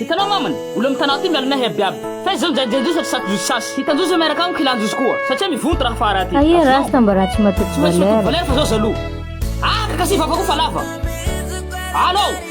Hitanao maman, olo am tanà ty miala nahy aby aby fa izy zao nijajy anjozony sady saky josy sasy, hitanjozony miaraka amiko hilanjozoko koa satria mivonto raha fa raha ty Aia rasta mba raha tsy matoky valeur. Tsy maintsy matoky valeur fa zao jaloux. Aa ka kasi vava koa fa lava. Allo.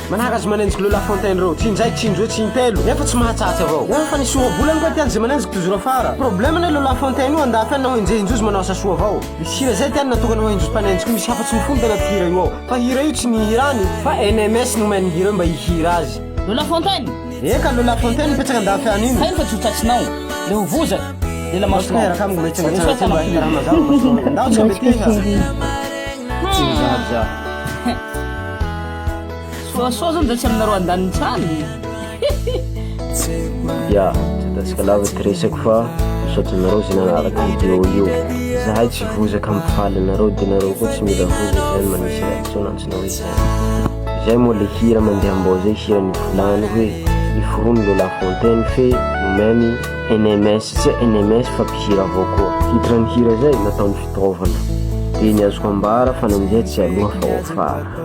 Manara azy manenjika ireo La Fontaine ireo Tsy injay, tsy indroa, tsy intelo Nefa tsy mahatsatsa avao Ho an'ny fanesoa vola ange tiany izay manenjika tojo rafara Problème anie ireo La Fontaine io Andafy any na ho enjehinjo izy manao asa soa avao Misy hira zay tiany natokana ho enjos mpanenjika io Misy hafa tsy mifono tena mpihira io ao Fa hira io tsy ny hirany Fa NMS no omeny ny hira io mba hihira azy Ireo La Fontaine? Eka ireo La Fontaine mipetraka Andafy any iny Hainy fa tsy ho tratsinao Le ho vozaka Lela masonao Masoko miaraka amiko mba hitsangatsangana aty mba hira mazava masonao Ndao tsika mety iha Tsy mizary za. Soasoa zany zay tsy aminareo andanintsany Ya, tsy atasika lava ty resako fa misaotra anareo zay nanaraka video io Zahay tsy vozaka mifaly anareo de nareo koa tsy mila vozaka zany manisy reaction antsonao hoe zay Zay moa le hira mandeha ambao zay hiran'i Volano hoe Miforona le la fontaine fe nomeny NMS tsy hoe NMS fa mpihira avao koa Titre ny hira zay nataony fitaovana De ny azoko ambara fa nandeha tsy aloha fa ho afara